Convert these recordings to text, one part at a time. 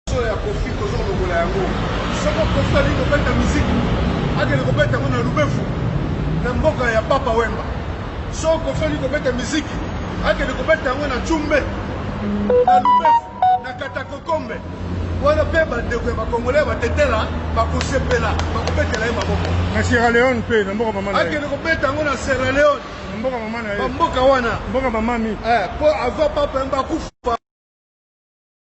Solo ya kofi kozo lokola yango soko kofi ali kobeta miziki akende kobeta yango na lubefu na mboka ya papa wemba soko kofi ali kobeta miziki akende kobeta yango na cumbe na lubefu na katakokombe wana mpe bandeko ya bakongole ya batetela bakosepela bakobetela ye maboko na sierra leone mpe na mboka mama akende kobeta yango na sierra leone mboka mama na ye bamboka wana mboka mamami mpo eh, avant papa yemba akufa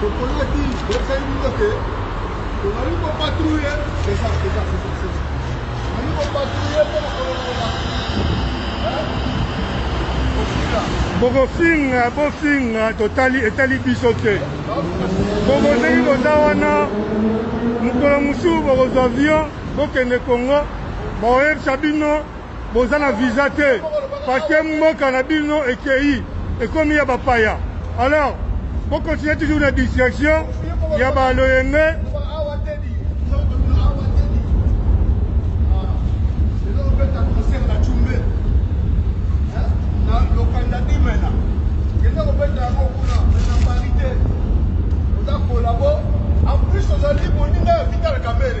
Toponaki toyebisaki bino ke tozali kopatrouille eza eza tozali kopatrouille mpo na kolongola bokofinga bofinga totali etali biso te bokozeki boza wana mokolo mosusu bokozwa avion bokende congo bakoyebisa bino Boza na visa te parce que mboka na bino ekeyi ekomi ya bapaya alors bo continuer toujours na distraction ya ba loyenge En plus, aux alliés, on est là, vital, quand même.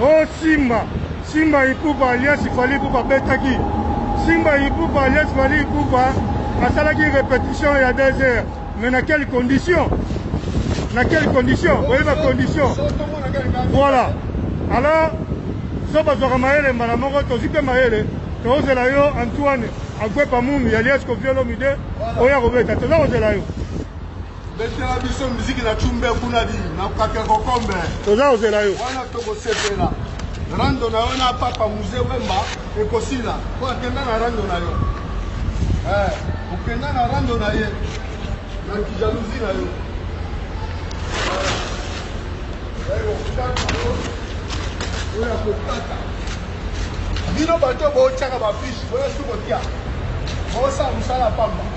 Oh Simba, Simba Ipupa alias Fally Ipupa betaki Simba Ipupa alias Fally Ipupa asalaki repetition ya deux heures mais na quelle condition na quelle condition oyebi ba condition voilà alors so bazwaka mayele mbala moko tozwi mpe mayele tozela yo antoine agwepa mumi alias koviolomide oya kobeta toza kozela yo betela biso miziki na cumbe kuna di na kake kokombe toza kozela yo wana tokosepela rando na yo na papa muze wemba ekosila mpo akenda na rando na yo eh, okenda na rando na ye na kijalousi na yo oyo akokata bino bato botyaka bafishi boyesu kotya bosala mosala pamba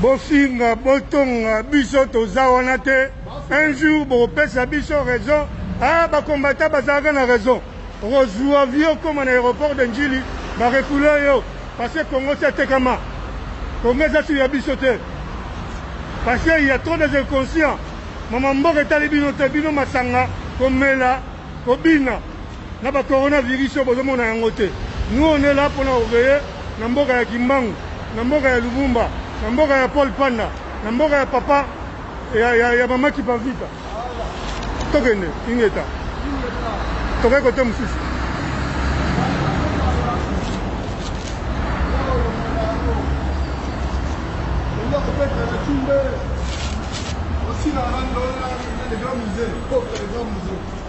bofinga botonga biso toza wana te un jour bokopesa biso raison ah bakombata bazalaka na raison okozwa vie okoma na aéroport de njili barekula yo parce que congo si atekama congo eza sur ya biso te parce que il y a trop des inconscients mama mboka etali bino te bino masanga komela kobina na ba corona virus oyo bozo mona yango te nous on est là pona ko veiller na mboka ya kimbangu na mboka ya lubumba na mboka ya paul panda na mboka ya papa ya, ya, ya mama kipavita tokende ingeta tokai kote mosusu Thank you.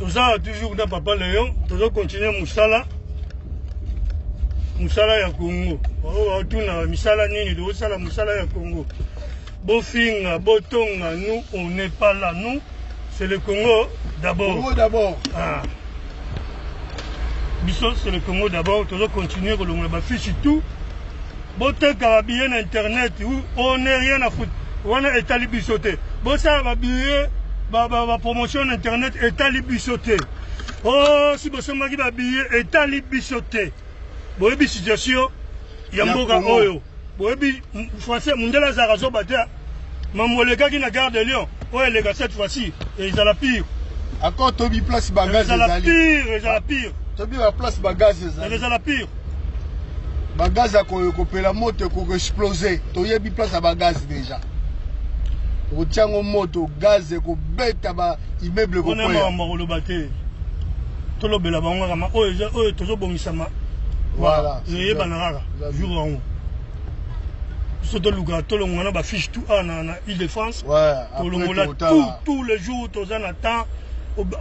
tozala toujours na papa leon tozo continue mosala mosala ya congo baoyo baotuna misala nini tozosala mosala ya congo bofinga botonga nous on n'est pas là nous c'est le congo d'abord congo d'abord ah. biso c'est le congo d'abord tozo continue kolongola bafishi tout Boteka ba billets na internet ou on ne rien à foutre. Wana etali biso te. Bosala ba billets ba ba, ba promotion na internet etali biso te. Oh, si bosombaki ba billets etali biso te. Boyebi situation ya mboka oyo. Boyebi français mundele azalaka zoba te. Mambo elekaki na Gare de Lyon, oyo eleka cette fois ci ezala pire. Encore tobi place ba gaz ezali. Ezala pire, ezala pire. Tobi ba place ba gaz ezali. Ezala pire. Ba gaz ya kopela moto ekoki exploser. Toyebi place ya ba gaz déjà. Otia yango moto, gaz ekobeta ba immeuble ekokwea. Ona makambo akoloba te. Tolobela bango kaka oyo oyo tozobongisama. Voilà. Eyebana kaka jour yango. biso toluka tolongola na bafiche tout awa na, na ile de france tolongola tout tout le jour toza na temps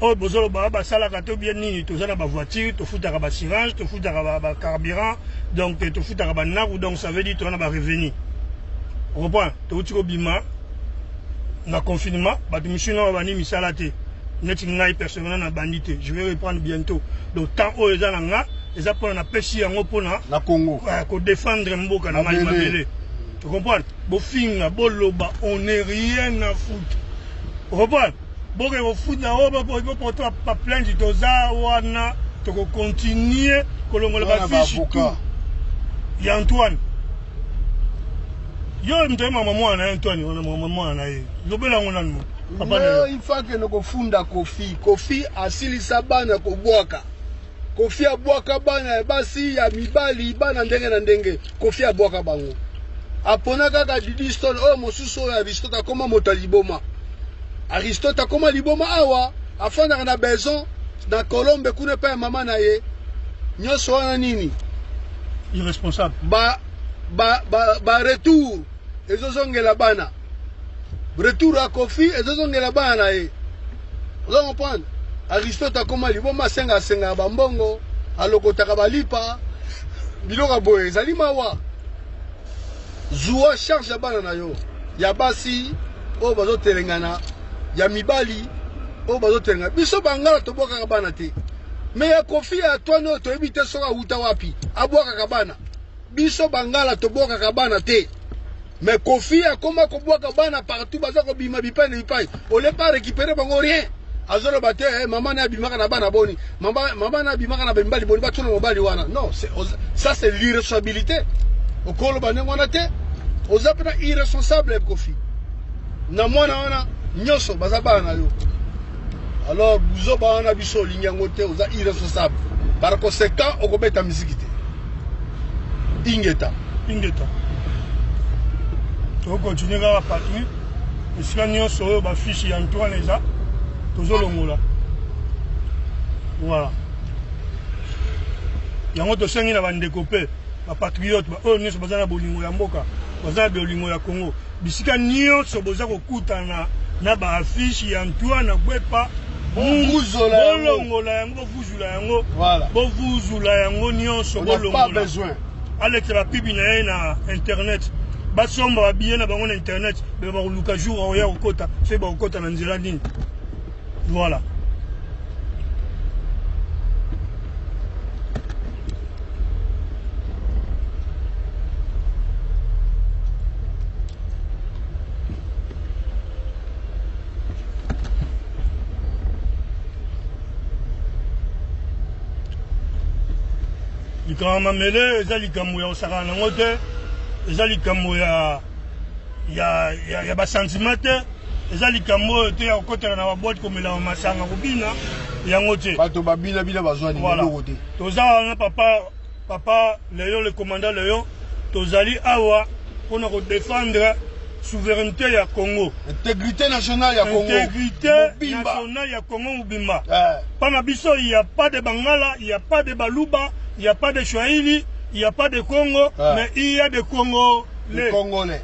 oyo bozoloba basalaka to bien nini toza na bavoiture tofutaka bassurance tofutaka bacarburant donc tofutaka banaku donc ça veut dire toza na barevenu okompona touti kobima na confinement bato misusu nao bandi misala te neti ngai personnellement nabandi te je vais reprendre bientôt donc temps oyo eza na nga eza pona na pesi yango pona na Congo ah, ko défendre mboka na mayi mabele tu comprends bofinga boloba on est rien à foutre comprends boke kofuta o bopoto ba plainte toza wana toko continuer kolongola ba fiche tout ya Antoine yo moto ye mama mwana ye Antoine wana mama mwana na ye lobela yango nanu papa na yo il faut que nokofunda kofi kofi asilisa bana kobwaka Koffi abwaka bana ya basi ya mibali bana ndenge na ndenge Koffi abwaka bango apona kaka Didi Stone oyo oh, mosusu oyo Aristote akoma moto ya liboma Aristote akoma liboma awa afandaka na Beson na Colombe kuna epai ya mama na ye nyonso wana nini irresponsable ba ba ba, ba retour ezozongela bana retour ya kofi ezozongela bana na ye oza comprendre aristote akoma liboma asenga asengaka bambongo alokotaka balipa biloko boye ezali mawa zuwa charge ya bana na yo ya basi oyo bazotelengana ya mibali oyo bazotelengana biso bangala tobwakaka bana te me ya kofi ya atwani oyo toyebi te soki awuta wapi abwakaka bana biso bangala tobwakaka bana te mais kofi akoma kobwaka bana partout baza kobima bipai na bipai ole pa récupérer bango rien azoloba te eh, mama naye abimaka na bana boni mama, mama naye abimaka na bamibali boni batuna mobali wana non ça c'est l'irresponsabilité okoloba ndenge wana te oza mpena irresponsable kofi na mwana wana nyonso baza bana na yo alors buzoba wana biso olingi yango te oza irresponsable par conséquent okobeta miziki te ingeta ingeta tokokontinue kaka patrouille esika nyonso oyo bafiche ya antoine eza tozolongola voilà yango tosengi na bandeko mpe bapatriote baoyo nyonso baza na bolingo ya mboka baza na bolingo ya congo bisika nyonso boza kokutana na baaffiche ya antoine gwepa munguzola bolongola yango Vuzula yango. Voilà. Bo vuzula yango nionso bo longola. Pas besoin. Alekela pibi na ye na internet. Basomba ba billets na bango na internet. Ba koluka jour oya kokota. Fe ba kokota na nzela nini. Voilà. likambo mamele eza likambo ya kosakana nango te eza likambo ya ya, ya, ya basantima te eza likambo oyo te ya kokotela na babwate komelama masanga kobina yango te bato babina bina bazwani eloko te toza wana papa Papa Leon le commandant Leon, tozali awa pona ko defendre souverainete ya Congo, integrite nationale ya Congo, integrite nationale ya Congo mobimba. Eh. Pana biso il y a pas de Bangala, il y a pas de Baluba, il y a pas de Swahili, il y a pas de Congo, eh. mais il y a de Congo les. Congolais.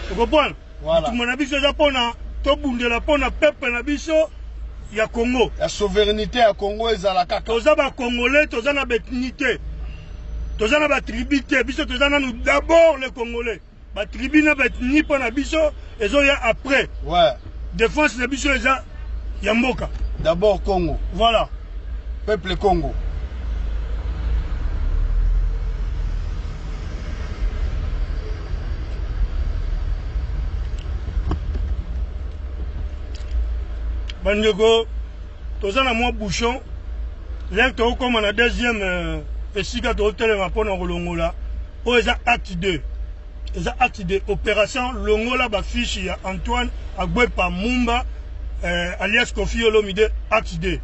Tu comprends? Voilà. Bitumba na biso eza pona tobundela pona peuple na biso ya Congo. Ya souverainite ya Congo ezala kaka. Toza ba Congolais, toza na bethnie te. Toza na ba tribu te. Biso toza nanu d'abord les Congolais. Ba tribu na bethnie pona biso ezoya après. Ouais. Défense na biso eza ya mboka d'abord congo voilà peuple congo bandeko toza na mwa bouchon lere tokokoma na deuxième euh, esika tokotelema mpo na kolongola oyo eza acte 2 eza acte de operation longola ba fiche ya Antoine Agbepa Mumba eh, alias Kofi Olomide acte de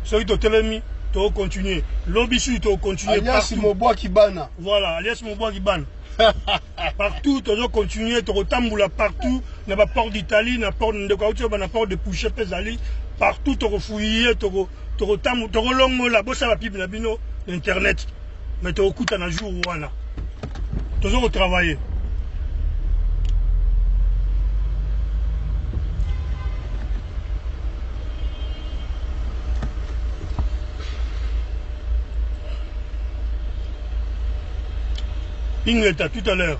soki totelemi to continuer lobi susu to continuer alias Mobwaki bana voilà alias Mobwaki bana partout tozo continuer tokotambola partout na ba port d'Italie na port ndeko auti ba na port de Pouche pe ezali partout tokofouiller toko toko tangu toko longola bosa ba pub na bino na internet mais toko kuta na jour wana tozo ko travailler Ingeta tout à l'heure